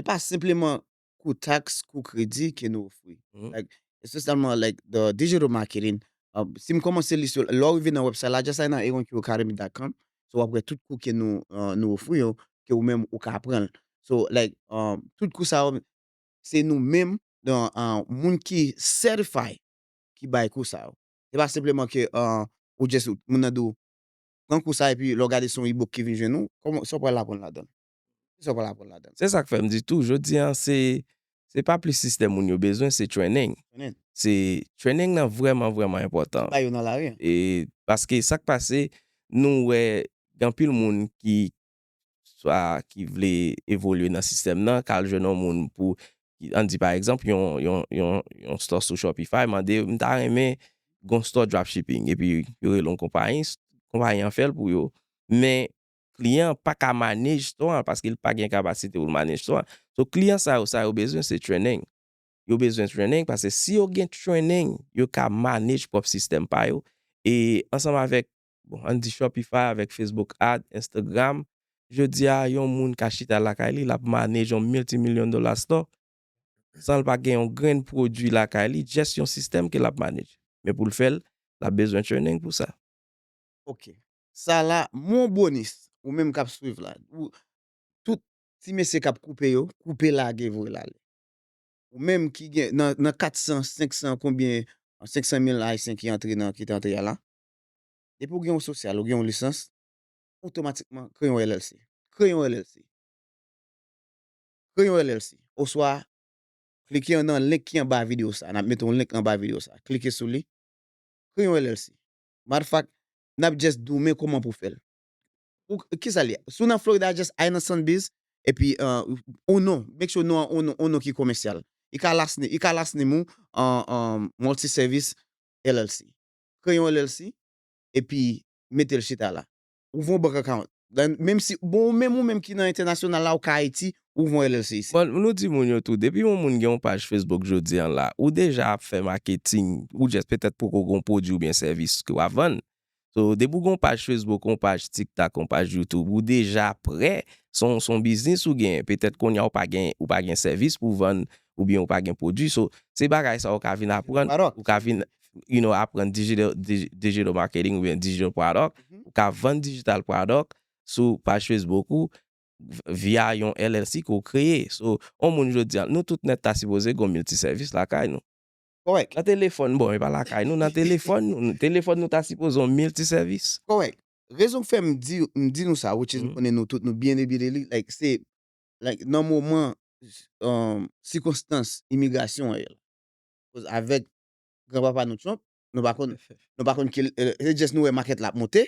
e pa senpleman kou taks, kou kredi ke nou ofri. Like, espesyalman like the digital marketing, um, si m kòmanse li sou, lè w rive nan website la, just al nan eronqacademy.com, so w ap wè tout kou ke nou, uh, nou ofri yo, ke ou menm ou ka pran l. So, like, um, tout kou sa yo, se nou menm, the, uh, moun ki certified ki bay kou sa yo. Se pa senpleman ke, uh, ou just, moun nan di w, pran kou sa epi lè w gade se yon e-book ki vin jwenn ou, kòman, sa w pral aprann ladan l? Ki sa w pral aprann ladan l? Se sa k fè m di tou, jodi a, se pa plis sistèm moun yo bezwen, se trening. Se trening nan vrèman vrèman enpòtan. Bay yo nan lari a. E paske sa k pase, nou wè gen anpil moun ki swa ki vle evolye nan sistèm nan, k al jwenn yon moun pou, an n di pa egzanp, yon store sou Shopify mande yo, m ta renmen gen yon store dropshipping. Epi yo rele yon konpayi, konpayi an fè l pou yo. Men, kliyan an pa ka manage store an paske li pa gen kapasite pou l manage store an. So kliyan sa yo sa yo bezwen se training. Yo bezwen training paske si yo gen training yo ka manage pwòp sistèm pa yo e ansanm avèk bon an n di Shopify avèk Facebook Ad, Instagram jodi a yon moun ka chita lakay li l ap manage yon multimillion dollar store san l pa gen yon grenn pwodui lakay li just yon sistèm ke l ap manage men pou l fè l l ap bezwen training pou sa. Ok sa la mon bonis ou menm kap swiv la ou tout ti mesye kap koupe yo koupe lage voye lale ou menm ki gen nan 400 500 konbyen 500 mil ayisyen ki antre nan ki te antre ya la depi ou gen yon sosyal ou gen yon lisans otomatikman kreye yon LLC kreye yon LLC kreye yon LLC oswa klike nan link ki anba video sa nap mete yon link anba video sa klike sou li kreye yon LLC matter of fact nap just diw men koman pou fèl ou kisa li si w nan Florida just al nan Sunbiz epi ou non make sure non an on non ki komesyal i ka last name i ka last name ou multi service LLC kreye yon LLC epi metel chita la ouvri yon bank account Menm si, bon menm ou menm ki nan entènasyonal la ou ka Ayiti, ou voye yon LLC isit. Bon, nou di moun yo tou, depi yon moun gen yon paj Facebook jodi an la, ou deja ap fè maketing, ou just petèt poko gen yon pwodui oubyen sèvis ke wap vann. So, depi ou gen yon paj Facebook, yon paj TikTok, yon paj YouTube, ou deja prè, se yon, se yon biznis ou genyen. Petèt kounye a ou pa gen, ou pa gen sèvis pou vann, oubyen ou pa gen pwodui. So, se bagay sa ou ka vin aprann, ou ka vin. you know, aprann digital marketing oubyen digital product, ou ka vann digital product sou paj Facebook ou via yon LLC ke w kreye. So, yon moun jodi a, nou tout nèt ta sipoze gon miltisèvis lakay nou. Kòrèk. Nan telefòn, bon, e pa lakay nou, nan telefòn nou, telefòn nou ta sipoze yon miltisèvis. Kòrèk. Rezon k fè m di, m di nou sa, which is m konnen nou tout nou byen ebile li, like, se, like, nan moman, sikonstans imigrasyon an ye la, koz avèk gran papa nou Trump nou pa konn nou pa konn ki se just nou wè market la ap monte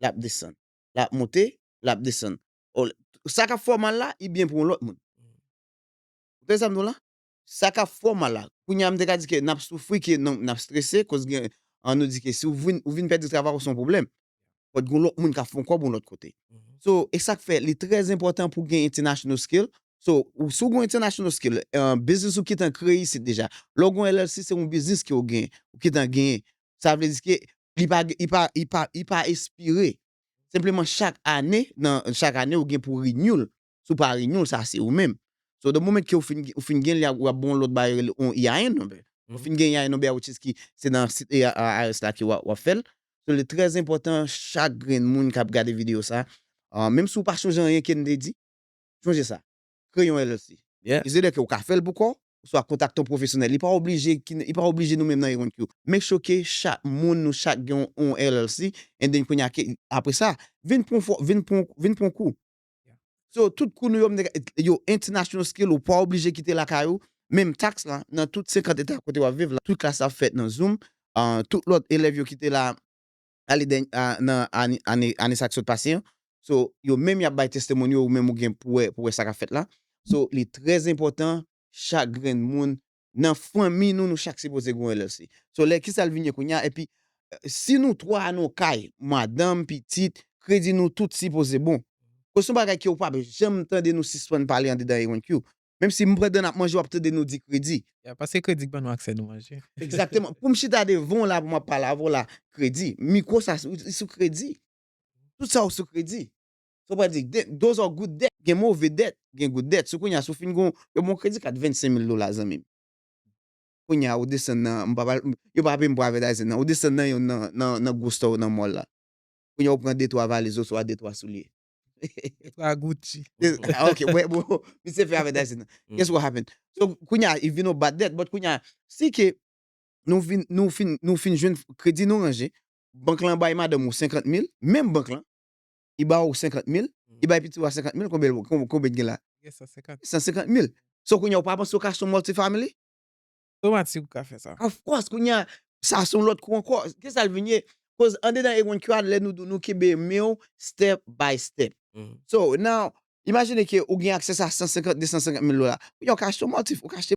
lap desann lap monte lap desann sa kap fè w mal la li byen pou yon lòt moun ou tande sa m di w la sa kap fè w mal la kounye a m te ka di ke nap soufri ke nap strese koz gen an nou di ke si w vin pèdi travay ou se yon pwoblèm But gon lòt moun kap fon kòb yon lòt kote. So e sak fè li trè enpòtan pou gen international skill. So si w gon international skill, biznis ou kitan kreye isit deja. Lè w gon LLC se yon biznis ke w gen, ou kitan genyen. Sa vle di ke li pa li pa li pa li pa espire. Senpleman chak ane nan chak ane ou gen pou renew l. si w pa renew l sa se ou menm. So the moment ke ou fin ou fin gen li ou ap ba yon lòt bagay rele yon EIN number. Ou fin gen EIN number which is ki se nan sit IRS la ke wap fè l. So li trè enpòtan chak grenn moun kap gade video sa menm si ou pa chonje anyen ke n te di chonje sa kreye yon LLC. Yeah. It's either ke ou ka fè l pou kò w oswa kontakte yon pwofesyonèl. Li pa oblije ki li pa oblije nou menm nan eronk yo. Make sure ke chak moun nou chak gen yon LLC and then kounye a ke apresa vin pran yon fò vin pran yon vin pran yon kou So tout kou nou yo mnde ka yo international skill ou pa oblije kite lakay ou, menm tax lan nan tout 50 eta kote wap viv la tout klas la ap fèt nan zoom, tout lòt elèv yo kite la ale dènye nan ane ane sa ki sot pase an so yo menm yap bay testimony yo ou menm ou gen pou wè pou wè sa kap fèt la so li trè enpòtan chak grenn moun nan fanmi nou nou chak sipoze gen yon LLC so lè kisal vin ye kounya epi si nou 3 nan yon kay madanm pitit kredi nou tout sipoze bon koz son bagay ke ou pap janm tande nou sispann pale andedan ENQ menm si pandan nap manje wap tande nou di kredi. Ya paske kredi k ban nou aksè nou manje. Egzakteman poum chita devanw la pou map pale avèw la kredi mikwo sa ou sou kredi tout sa ou sou kredi. Sa w pral di, Those are good debt, gen move dèt, gen good debt. Sou kounye a, si w fin gen yon bon kredi kat 25 mil dola zanmi m, kounye a ou desann nan, m pa pral, yo pa peye m pou avètayzin nan, ou desann nan yonn nan, nan gwo store yo nan mall la. Kounye a ou pran detwa valiz oswa detwa soulye. Detwa Gucci. Ok, wè bro, misye fè avètayzin nan. Guess what happen? So, kounye a, it vin yon bad debt, but kounye a, si ke nou vin, nou fin, nou fin jwenn kredi nou ranje, bank lan bay madanm ou 50 mil, menm bank lan, li ba ou 50 mil, li bay piti ou a 50 mil, konbyen l gen, konbyen l gen la? Li gen 150 mil. 150 mil. So kounye a ou pa panse ou ka son multi family? Otomatik ou ka fè sa. Of course, kounye a, sa son lòt kou ankò. Ki sa l vin ye? Koz andedan A1 ki a lè nou di w nou kenbe men w step by step. So now, imajine ke ou gen access a 150, 250 mil dola. Kounye a ou ka achte yon multi, ou ka achte.